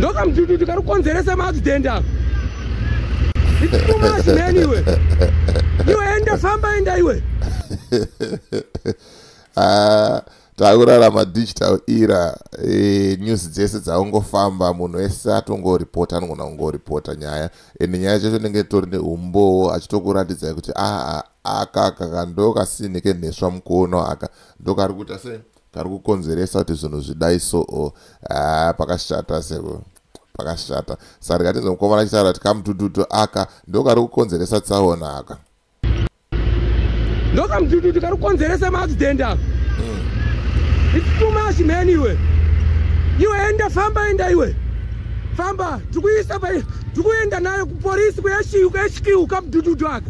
ndokamudududu kari kukonzeresa maaccident ako itumachimeni iwe iwe enda famba enda iwe ah, takurarama digital era e, news dzese dzaungofamba munhu wese atongoripota anogona kungoripota nyaya ende nyaya chacho nenge tori neumbowo achitokuratidzai kuti aa ah, ah, aka kakandokasinike nheswa mukono aka ndokari kuita sei kari kukonzeresa kuti zvinhu zvidai soo haa ah, pakashata seko pakashata saka katinzwa mukomana achitaura kuti kamutututu aka ndo kari kukonzeresa tsaona aka ndo kamutututu kari kukonzeresa maaccident aka hmm. its too much man iwe iwe enda famba enda iwe famba tikuisa pa tikuenda nayo kupolisi kuyashiyu kuyashikiu kamutututu aka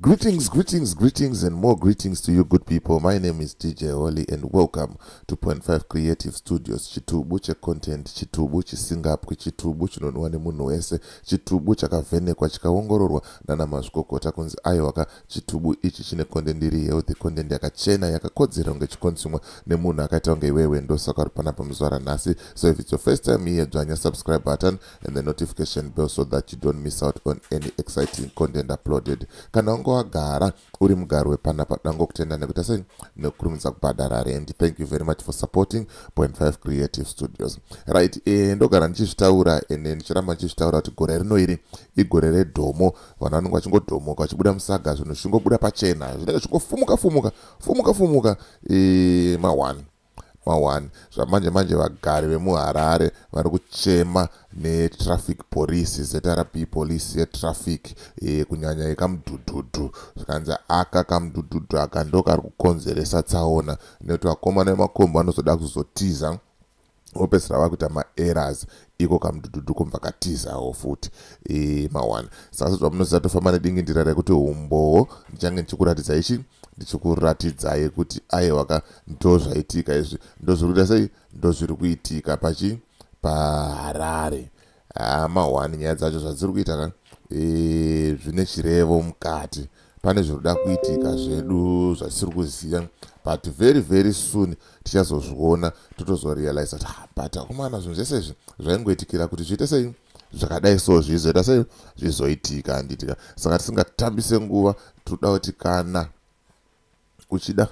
Greetings, greetings, greetings, and more greetings to you, good people. My name is DJ Holly, and welcome to Point Five Creative Studios. Chitubu che content, chitubu chisingapwi, chitubu chinonwa nemunhu wese, chitubu chakavhenekwa chikaongororwa nana mazvikokota kunzi aiwaka chitubu ichi chine content iri healthy, content yakachena yakakodzera kunge chikonsumwa nemunhu akaita kunge iwewe ndosaka uri panapa muzuva ranhasi. So if it's your first time here, dzvanya subscribe button, and the notification bell so that you don't miss out on any exciting content uploaded kana unge wagara uri mugari wepanapa dango kutenda nekuita sei nekukurumidza kubhadhara rendi thank you very much for supporting point 5 creative studios right e, ndogara ndichizvitaura ene ndichiramba ndichizvitaura kuti gore rino iri igore redhomo vanhu vanenge vachingodhomoka vachibuda musaga zvinhu zvichingobuda pachena zvinenge zvichingofumuka fumuka fumuka fumuka e, eh, mawani mawani zvamanje manje vagari vemuharare vari kuchema netraffic police zrp police yetraffic e, kunyanya yekamudhudhudhu zvikanzi aka kamudhudhudhu aka ndo kari kukonzeresa tsaona nekuti vakomana vemakombo vanozoda kuzotiza vopedzisira vakuita maeras iko kamdududu kobva katizawo futi e, mawana saka sezva munoziva tofamba nedingindira rekuti umbowo ndichange ndichikuratidza ichi ndichikuratidzai kuti aiwaka ndozvaitika izvi ndozviri kuita sei ndozviri kuitika pachi paharare ah, mahwani nyaya dzacho zvadziri kuita ka e, zvine chirevo mukati pane zvinoda kuitika zvedu zvatisiri kuziva but very very soon tichazozviona totozorealize kuti ah, but akomana zvinhu zvese izvi zvaingoitikira kuti zviite sei zvakadai so zvizoita sei zvizoitika handitika saka tisingatambise nguva tinoda kuti kana uchida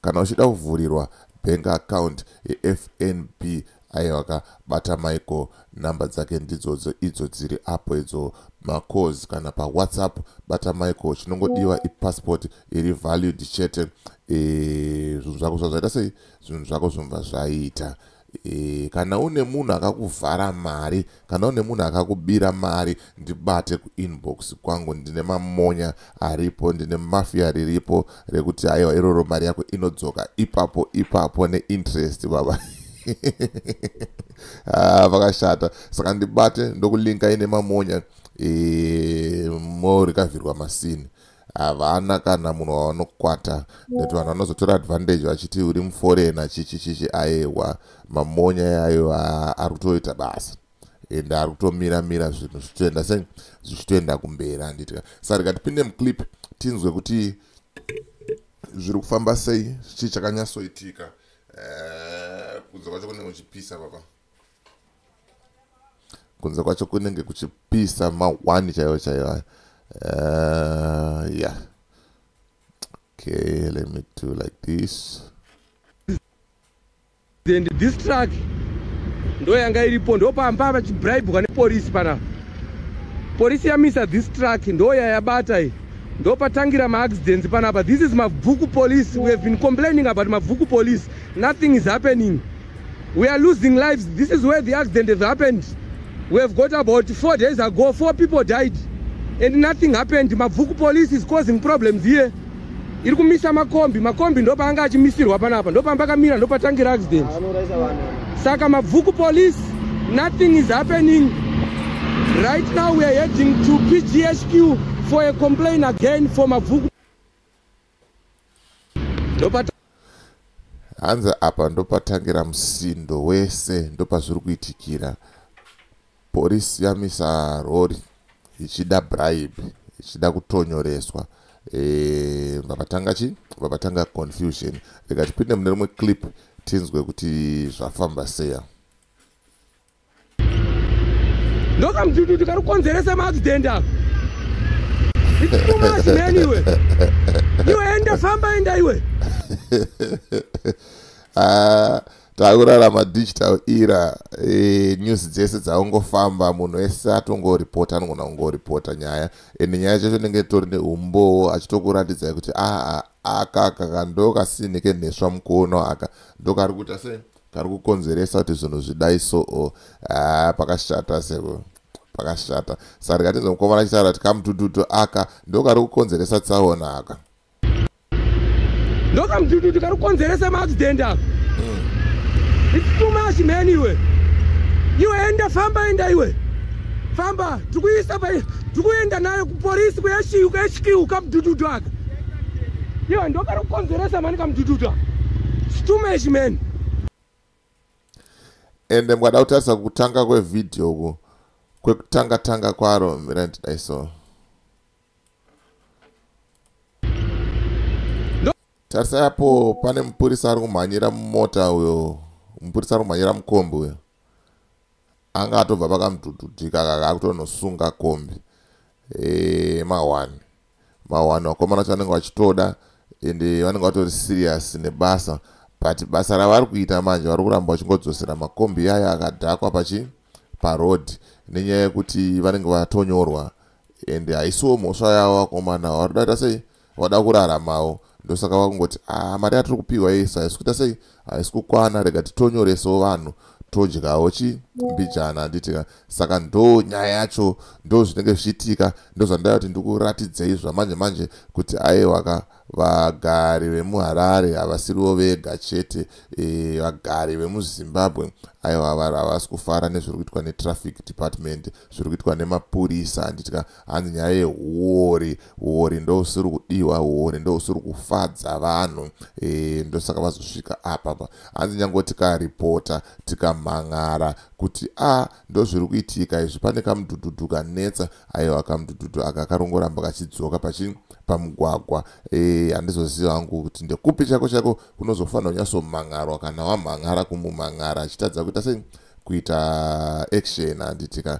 kana uchida kuvhurirwa bank account yefnb aiwaka bata michael number dzake ndidzodzo idzo dziri apo idzo macause kana pawhatsapp bata michael chinongodiwa ipassport iri valued chete e, zvinhu zvako zvazvaita sei zvinhu zvako zvomva zvaita e, kana une munhu akakuvhara mari kana une munhu akakubira mari ndibate kuinbox kwangu ndine mamonya aripo ndine mafia riripo rekuti haiwa iroro mari yako inodzoka ipapo ipapo neinterest baba ah, vakashata ah, saka ndibate ndokulinkai nemamonya e, morikavhirwa masini havana kana munhu wavanokwata nekuti vanhu vanozotora advantage vachiti uri muforena chichi chichi ayewa mamonya yayo ari kutoita basa ende ari kutomira mira zvinhu zvichitoenda sei zvichitoenda kumberi handiti sa rega tipinde muclip tinzwe kuti zviri kufamba sei chii chakanyatsoitika eh, kunze kwacho kune kuchipisa papa kunze kwacho kunenge kuchipisa mahwani chaivo chaivo ayo uh, eh, yeah okay let me do like this and this truck ndo yanga iripo ndo pamba vachibribwa nepolisi pana polisi yamisa this truck ndo yayabata iyi ndo patangira maaccidents panapa this is mabvuku police we have been complaining about mabvuku police nothing is happening We are losing lives. This is where the accident has happened. We have got about four days ago, four people died and nothing happened. Mabvuku police is causing problems here. iri kumisa makombi makombi ndopaanga achimisirwa panapa ndopamba akamira ndopatangira accident saka mabvuku police nothing is happening right now weare heading to pghq for a complain again for mabvuku hanzi apa ndopatangira musindo wese ndopazviri kuitikira porisi yamisa rori ichida bribe ichida kutonyoreswa eh, vavatanga chi vavatanga confusion rikatipinde mune rimwe clip tinzwe kuti zvafamba seya ndokamudududu kari kukonzeresa maaccident ako ichikumwa chimeni iwe iwe enda famba enda iwe ah, takurarama digital era e, news dzese dzaungofamba munhu ese atongoripota anogona kungoripota nyaya ende nyaya chacho inenge tori neumbowo achitokuratidzai kuti aa ah, ah, aka kaka ndokasini kenheswa mukuono aka ndokari kuita sei kari kukonzeresa kuti zvinhu zvidai soo haa ah, pakashata seko pakashata sari katinze mukomana achitaura kuti kamutututu aka ndo kari kukonzeresa tsaona aka ndo kamutututu kari kukonzeresa maaccident aka hmm. its too much man iwe iwe enda famba enda iwe famba tikuisa pa tikuenda nayo kupolisi kuyashiu kuyashikiu kamutututu aka Yo, ndokari kukonzeresa mani kamudududa. Stumesh man. Ende mukada kutarisa kutanga kwevideo uku kwekutanga tanga kwaro mira ndidai so. Tarisa apo pane mupurisa ari kumhanyira mumota uyo. Mupurisa ari kumhanyira mukombi uyo. Anga atobva pakamudududika kaka akutonosunga kombi. Eh, ma one. mawanhu vakomana vacho vanenge vachitoda ende vanenge vatori serious nebasa but basa ravari kuita manje vari kuramba vachingodzosera makombi yaya akadhakwa pachi paroad nenyaya yekuti vanenge vatonyorwa ende haisiwo mhosva yavo vakomana vari kudaita sei vada kuraramawo ndosaka vakungoti a ah, mari yatiri kupiwa yese haisi kuita sei haisi kukwana rega titonyoresawo vanhu todyawo chi mbijana handiti ka saka ndo nyaya yacho ndo zvinenge zvichiitika ndozvandaya kuti ndikuratidzei zvamanje manje kuti aiwa ka vagari vemuharare havasiriwo vega chete e, vagari vemuzimbabwe aiwa havasi kufara nezviri kuitwa netraffic department zviri kuitwa nemapurisa handiti ka hanzi nyaya yehuori huori ndousiri kudiwa huori ndousiri kufadza vanhu e, ndosaka vazosvika apapa hanzi nyange tikaripota tikamhan'ara kuti a ah, ndozviri kuitika izvi pane kamudhudhudhu kanetsa aiwa kamudhudhudhu aka karongoramba kachidzoka pachi pamugwagwa e, handizoziva e, hangu kuti ndekupi chako chako kunozofanira kunyasomhan'arwa kana wamhan'ara kumumhan'ara achitadza kuita sei kuita action handitika